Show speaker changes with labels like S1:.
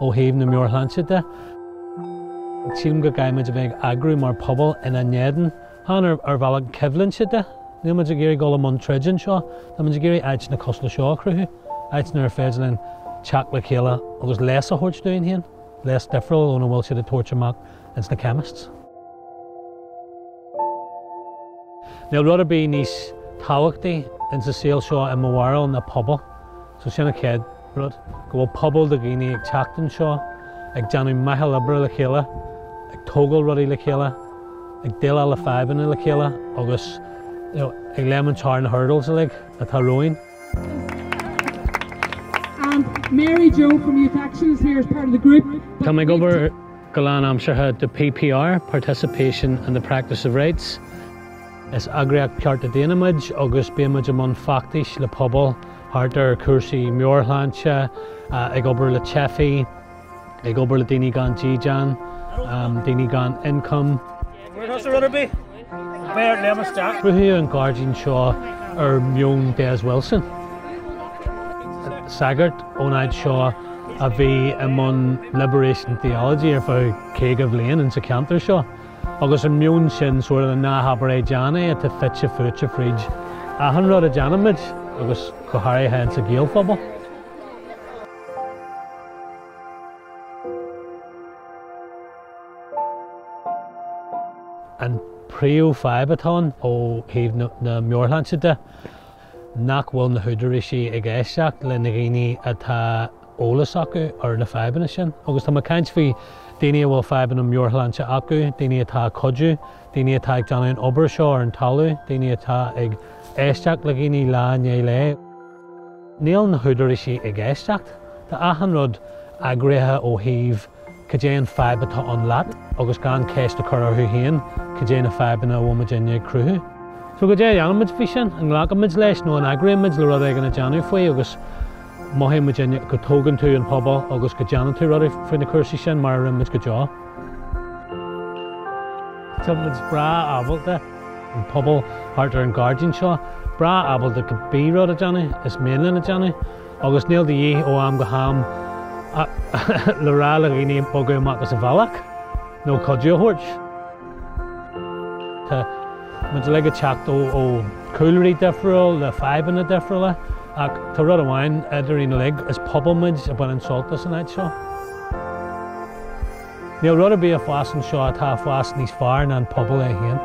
S1: ó thaobh na meabharshláinte de. Sílim go gcaithfimid a bheith ag eagrú mar pobal ina n-éadan, chan ar bhealach coimhlinte de. Níl muid ag iarraidh dul i mbun troid anseo, tá muid ag iarraidh áiteanna cosúil leis seo a chruthú, áiteanna ar féidir linn teacht le chéile agus leigheas a thabhairt dúinn féin, leigheas difriúil óna bhfuil siad ag tabhairt amach ins na chemists. Níl rud ar bith níos tábhachtaí insa saol seo i mo bharúil ná pobal, so sin an chéad rud go bhfuil pobal de dhaoine ag teacht anseo ag déanamh meitheal oibre le chéile, ag tógáil rudaí le chéile, ag déileáil le fadhbanna le chéile agus ag léimint thar na hurdles uilig atá romhainn.
S2: Tá mé ag
S1: obair go lánaimseartha do PPR, Participation and the Practice of Rights. Is eagraíocht cearta daonna muid agus bíonn muid i mbun feachtais le pobal, thart ar chúrsaí meabhairshláinte, ag obair le teifigh, ag obair le daoine gan dídean, daoine gan ioncam.
S3: Cruthaíodh an gairdín
S1: seo ar mheon Des Wilson, sagart ón áit seo a bhí i mbun Liberation Theology ar feadh 50 bliain insan cheantar seo. Agus an meon sin sórt 'ná habair é, déan é' atá fite fuaite fríd achan rud a déanaimid agus go háirithe ins an Gaelphobal. An phríomhfhadhb atá ann ó thaobh na meabhairshláinte de nach bhfuil na húdaráisí ag éisteacht leis na daoine atá eolas acu ar na fadhbanna sin. Agus tá mé ag caint faoi daoine a bhfuil fadhbanna meabhairshláinte acu, daoine atá ag cuidiú, daoine atá ag déanamh an obair seo ar an talamh, daoine atá ag éisteacht le daoine lá i ndiaidh lae. Níl na húdaráisí ag éisteacht. Tá achan rud eagraithe ó thaobh cad é an fhadhb atá ann leat? Agus gan ceist a chur orthu féin, cad é na fadhbanna a bhfuil muidinne ag cruthú? So cad é a dhéanaimid faoi sin? An nglacfaimid leis nó an eagróimid le rud éigin a déanamh faoi agus mothaíonn muidinne go dtógann tú an pobal agus go déanann tú rudaí faoi na cúrsaí sin mar a rinne muid go deo? Tá muid breá ábalta, an pobal thart ar an gairdín seo, breá ábalta cibé rud a déanamh is mian linn a dhéanamh. Agus níl de dhíth ó am go ham le rá le daoine bogadh amach as an bhealach nó cuidiú a thabhairt. Tá muid uilig ag teacht ó chúlraí difriúla le fadhbanna difriúla ach tá rud amháin eadrainn uilig, is pobal muid a bhaineann sult as an áit seo. Níl rud ar bith ag fás anseo atá ag fás níos fearr ná an pobal é féin.